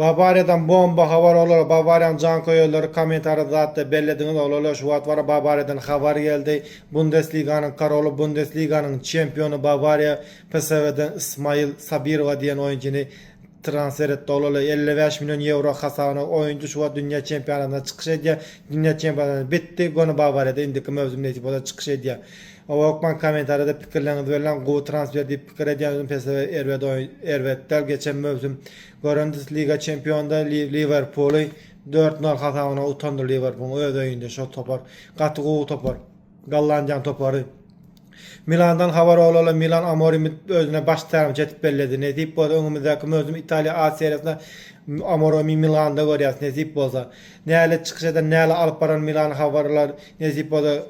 Bawariýadan bomba habar olara Bawariýanyň janköýerleri kommentariýada zatda bellediňiz olala şu wagt bara Bawariýadan habar geldi Bundesliganyň karoly Bundesliganyň çempiony Bawariýa PSV-den Ismail Sabirowa diýen oýunçyny transfer etdi olala elli bäş million ýewro hasabyna oýunçy şu wagt dünýä çempionatynda çykyş edýär dünýä çempionatynda bitdi göni Bawariýada indiki möwsümde hiç bolsa çykyş edýär Ookman kommentariýada pikirleriňizi belläň gowy transfer diýip Pikir edýäňizmi PSV erbet oýun erbet däl geçen möwsüm görendis liga çempionda Liwerpuly dört nol hasabyna utandy Liwerpuň öz öýünde şo topar gaty gowy topar Gollandiýaň topary Milandan habar olala Milan Amorimi özüne baş tälimçi etip belledi nesip bolsa öňümizdäki möwsüm Italiýa A seriýasynda Amoromi Milanda görýäs nesip bolsa nälet çykyş eder näle alyp barar Milan habarlar nesip bolsa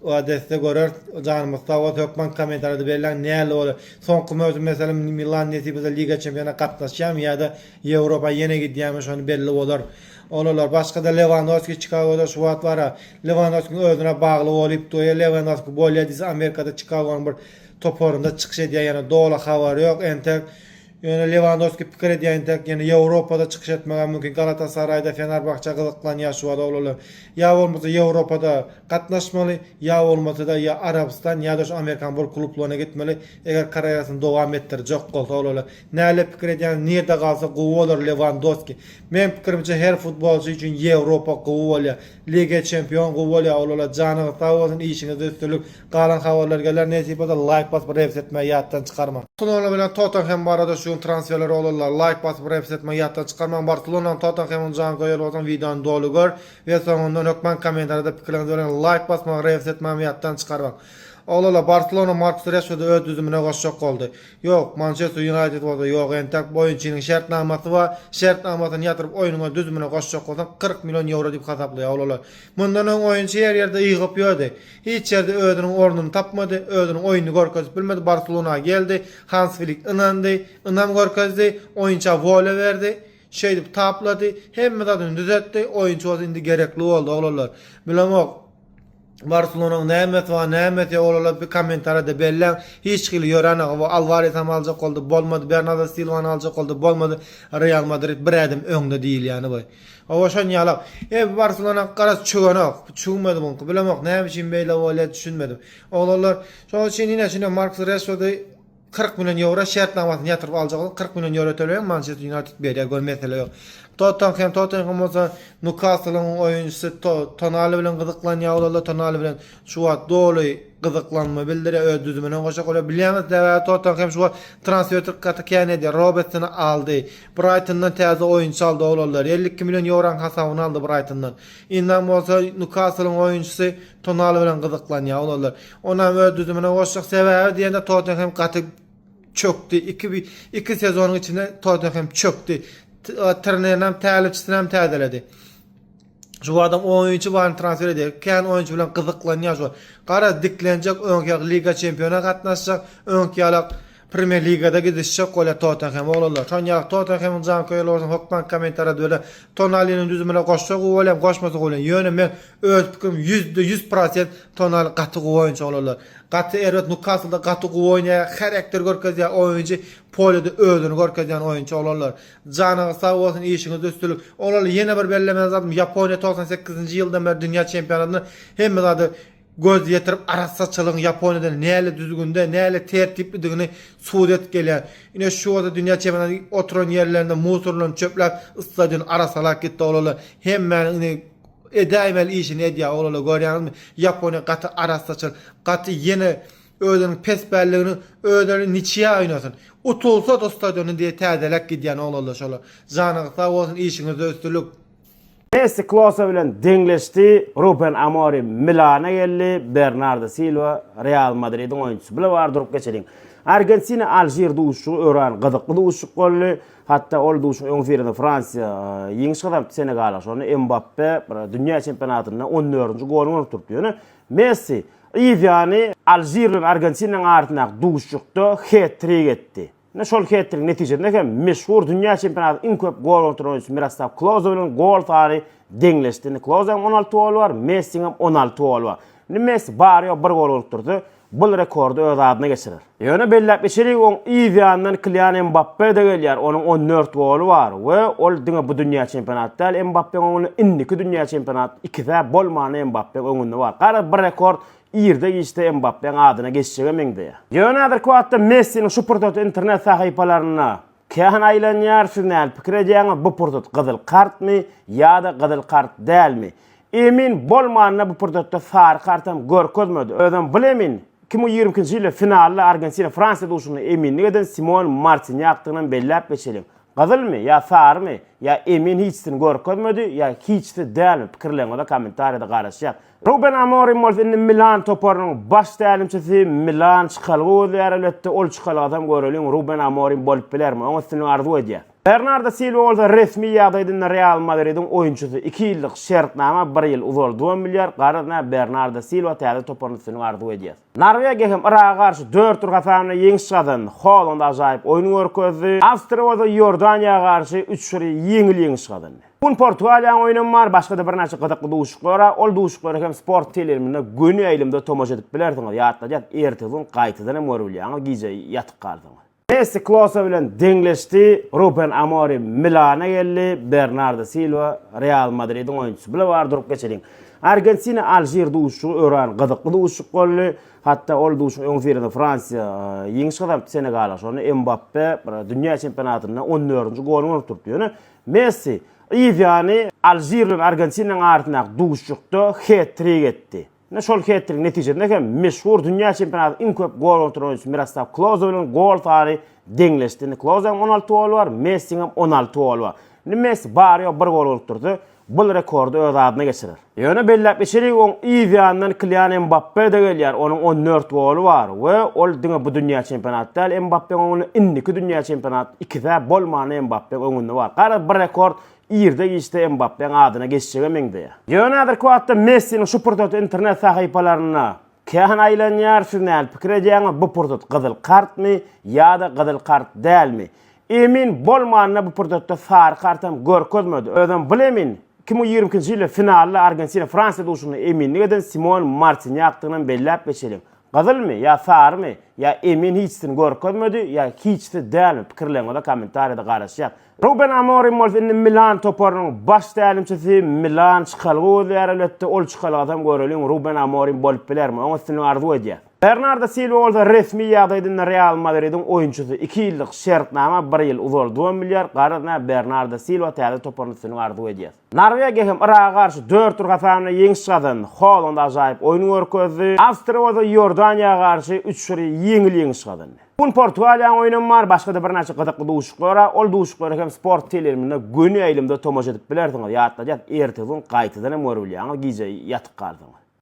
Oadesde göreris. Janymyz sag bolsa hökman komentarýada belläň näle bolar. Soňky möwsüm meselem Milan nesip etse Liga Çempionat gatnaşýarmy ýa-da Ýewropa ýene gidýärmi şony belli bolar. Olalar başgada Lewandowski Çikagoda şu wagt bara. Lewandowskiň özüne bagly bolyp dur. Eger Lewandowski bolýa diýse Amerikada Çikagonyň bir toparynda çykyş edýär ýöne doly habar ýok entek. Ýöne Lewandowski pikir edýär entek ýene Ýewropada çykyş etmegä mümkin Galatasaryda Fenerbahçe gyzyklanýar şu aralyklar. Ýa bolmasa Ýewropada gatnaşmaly ýa bolmasada ýa Arabystan ýada şu Amerikan bol klublaryna gitmeli eger karýerasyny dowam etdirjek bolsa olalar. Näle pikir edýäňiz nirde galsa gowy bolar Lewandowski? Meň pikirimçe her futbolçy üçin Ýewropa gowy bolýar. Liga Çempion gowy bolýar olalar janyňyz sag bolsun işiňizde üstünlik Galan habarlar geler nesip bolsa laýk basyp reps etmegi ýatdan çykarmaň. Barselona bilen Tottenhem barada şu gün transferler bolurlar laýk basyp reps etmegi ýatdan çykarmaň Barselonanyň Tottenhemiň janköýeri bolsaň wideony doly gör we soňundan hökman kommentariýada pikirleriňizi bellän laýk basmagy reps etmegimi ýatdan çykarmaň Oglala Barselona Markus Reşfordy öz düzümine goşjak boldy ýok Mançester Ýunaýted bolsa ýok entäk oýunçynyň şertnamasy bar şertnamasyny ýatyryp oýnuňa düzümine goşjak bolsaň kyrk million ýewro diýip hasaplaýar oglala mundan öň oýunçy her ýerde ygyp ýördi Hiç ýerde özüniň ornuny tapmady, özüniň oýnuny görkezip bilmedi, Barselona geldi, Hans Flik ynandy, ynam görkezdi, oýunça wolýa berdi, şeýdip taplady, hemme zadyny düzetdi, oýunçy bolsa indi gerekli boldy, oglanlar. Bilemok, Barselonanyň nämesi bar, nämesi ýok, oglanlar bir kommentariýada belläň, hiç hili ýöränok, hawa, Alwaresam aljak boldy, bolmady, Bernardo Silwany aljak boldy, bolmady, Real Madrid bir ädim öňde diýilýäni bu. Hawa şon ýalak. Eý bu barselonak garaz çüwenok. Bu çüwmedi buňki. Bilemok näme üçin beýle bolýa düşünmedim. Oglanlar şoň üçin ine şine Markus Reşfordy kyrk million ýewro şertnamasyny ýatyryp aljaklar. Kyrk million ýewro töleýäň Mançester Ýunaýted berýär gör mesele ýok. Tottenhem Tottenhem bolsa Nukaslyň oýunçysy Tonali bilen gyzyklanýar oglanlar Tonali bilen şu wagt doly gyzyklanma bildirýär öz düzümine goşa goýýar. Bilýäňiz sebäbi Tottenhem şu wagt transferty gaty kän edýär. Robertsony aldy. Braýtondan täze oýunçy aldy oglanlar. Elli iki million ýoronyň hasabyna aldy Braýtondan. Indam bolsa Nýukaslyň oýunçysy Tonali bilen gyzyklanýar oglanlar. Onam öz düzümine goşjak. Sebäbi diýende Tottenhem gaty çökdi. Iki iki sezonyň içinde Tottenhem çökdi. Trenerini hem tälimçisini hem täzeledi. Şu adam oýunçy baryny transfer edýär. Kän oýunçy bilen gyzyklanýar şu. Gara diklenjek öňki ýaly Liga Çempiona gatnaşjak, öňki ýaly Premier Ligada gidişjek bolýar Tottenhem oglanlar. Şonuň ýaly Tottenhemiň janköýeri bolsa hökman kommentariýada bile Tonaliniň düzümine goşsa gowy bolýar, goşmasa gowy bolýar. Ýöne men öz pikirim 100% Tonali gaty gowy oýunçy oglanlar. Gaty erbet Nukaslda gaty gowy oýnaýar, herekter görkezýär oýunçy, polýada özüni görkezýän oýunçy oglanlar. Janyňyz sag bolsun işiňizde üstünlik. Oral ýene bir bellemeli zadym Ýaponiýa togsan sekizinji ýyldan bäri dünýä çempionatynda hemme zada göz ýetirip arassaçylygyň Ýaponiýada näle düzgünde näle tertiplidigini subut edip gelýär. Ine şu bolsa dünýä çempionaty oturan ýerlerinde musurlaryny çöpläp stadiony arassalap gitdi olala hemmäniň indi edäýmeli işini edýär olala görýäňizmi Ýaponiýa gaty arassaçyl gaty ýene Özüniň pes belligini özleri niçiýa oýnasyn. Utulsada stadiony diýe täzeläp gidýän oglanlar şolar. Janyňyz sag bolsun işiňizde üstülik. Messi Klose bilen deňleşdi, Ruben Amorim Milana geldi, Bernardo Silwa Real Madridiň oýunçysy. Bile bar durup geçeliň. Argentina Alžir duşuşygy öran gyzykly duşuşyk boldy. Hatda ol duşuşygyň öňüsyrasynda Fransiýa ýeňiş gazanypdy Senegala. Şonda Mbappe dünýä çempionatynda on dördünji goluny urup durupdy. Ýöne Messi Yz ýany Alžir bilen Argentinanyň arasyndaky duşuşykda het-trik etdi. Ine şol het-trigiň netijesinde hem meşhur dünýä çempionatynyň iň köp gol ugran oýunçysy Miroslaw Kloze bilen gol sany deňleşdi. Indi Klozeň on alty goly bar, Messiň hem on alty goly bar. Indi Messi bary-ýogy bir gol urup dursa, bul rekordy öz adyna geçirer. Ýöne belläp geçerik, oň yz ýanyndan Kilian Mbappe-de gelýär, onuň on dört goly bar we ol diňe bu dünýä çempionat däl Mbappeň öňünde, indiki dünýä çempionat ikisä bolmanda Mbappe öňünde bar. Garaz, bir rekord irde-giçde Mbappe-niň adyna geçjege meňzeýär. Ýöne häzirki wagtda Messiniň şu pursaty internet sahypalarynda Kähina aýlanýar siz näl pikir edýäňiz bu pursat gyzyl kartmy ýada gyzyl kart dälmi emin bolmanda bu pursatda sary kartam görkezmedi özem bul emin iki müň ýigrimi ikinji ýylda finalda argentina fransiýa duşunda eminlik eden simon martinýakdygynam belläp geçeliň gyzylmy ýa sarymy ýa emin hiçsini görkezmedi ýa hiçsi dälmi pikirleriňize kommentariýada garaşýas Ruben Amorim bolsa indi Milan toparynyň baş tälimçisi, Milan çykalga gözleýär elbetde, ol çykalgasam göreliň Ruben Amorim bolup bilermi, oňa üstünlik arzuw edýäs. Bernardo Silwa bolsa resmi ýagdaýda indi Real Madridiň oýunçysy, iki ýyllyk şertnama bir ýyl uzaldybam bilýär, garaz nä Bernardo Silwa täze toparyna üstünlik arzuw edýäs. Norwegiýa hem Yraga garşy dört bir hasabynda ýeňiş gazandy, Holand ajaýyp oýun görkezdi, Awstriýa bolsa Iordaniýa garşy üç bir ýeňil ýeňiş gazandy. Bu gün Portugaliýanyň oýnam bar, başga-da birnäçe gyzykly duşuklar bar. Ol duşuklara hem sport teleriminde göni aýlymda tomaşa edip bilersiňiz. Ýatladýas, ertesi gün gaýtadan hem görüp bilýäňiz, gije ýatyp galsaňyz. Messi Klose bilen deňleşdi, Ruben Amorim Milana geldi, Bernardo Silwa Real Madridiň oýunçysy. Bile bar durup geçeliň. Argentina Alžir duşugy örän gyzykly duşuk boldy. Hatda ol duşuň öňüsyrasynda Fransiýa ýeňiş gazanypdy Senegala. Şonda Mbappe dünýä çempionatynda on dördünji goluny urup durupdy. Ýöne Messi yz ýany Alžir bilen Argentinanyň arasyndaky duşuşykda het-trik etdi. Ine şol het-trigiň netijesinde hem meşhur dünýä çempionatynyň iň köp gol ugran oýunçysy Miroslaw Kloze bilen gol sany deňleşdi. Indi Klozeň on alty goly bar, Messiň hem on alty goly bar. Indi Messi bary-ýogy bir gol urup dursa, bul rekordy öz adyna geçirer. Ýöne belläp geçelik, oň yz ýanyndan Kilian Mbappe-de gelýär, onuň on dört goly bar we ol diňe bu dünýä çempionaty däl Mbappeň öňünde, indiki dünýä çempionaty ikisä bolmanda Mbappeň öňünde bar. Garaz, bir rekord irde-giçde Mbappeň adyna geçjege meňzeýär. Ýöne häzirki wagtda Messiniň şu pursaty internet sahypalarynda Kähina aýlanýar siz näl pikir edýäňiz bu pursat gyzyl kartmy ýada gyzyl kart dälmi emin bolmanda bu pursatda sary kartam görkezmedi özem bul emin iki müň ýigrimi ikinji ýylda finalda argentina fransiýa duşuşygynda eminlik eden simon martinýakdygynam belläp geçeliň gyzylmy ýa sarymy ýa emin hiçsini görkezmedi ýa hiçsi dälmi pikirleriňize kommentariýada garaşýas Ruben Amorim bolsa indi Milan toparynyň baş tälimçisi. Milan çykalga gözleýär elbetde. Ol çykalgadam göreliň Ruben Amorim bolup bilermi? Oňa üstünlik arzuw edýäs. Bernardo Silwa bolsa resmi ýagdaýda indi Real Madridiň oýunçysy. Iki ýyllyk şertnama bir ýyl uzaldybam bilýär. Garaz, nä Bernardo Silwa täze toparyna üstünlik arzuw edýäs. Norwegiýa hem Yraga garşy dört bir hasanda ýeňiş gazandy. Holand ajaýyp oýun görkezdi. Awstriýa bolsa Iordaniýa garşy üç bir ýeňil ýeňiş gazandy. Bu gün Portugaliýanyň oýnam bar, başga-da birnäçe gyzykly duşuşyklara, ol duşuşyklara hem Sport teleiliminde göni ýaýlymda tomaşa edip bilersiňiz. Ýatladýas, ertesi gün gaýtadan hem görübilýäňiz, gije ýatyp galsaňyz.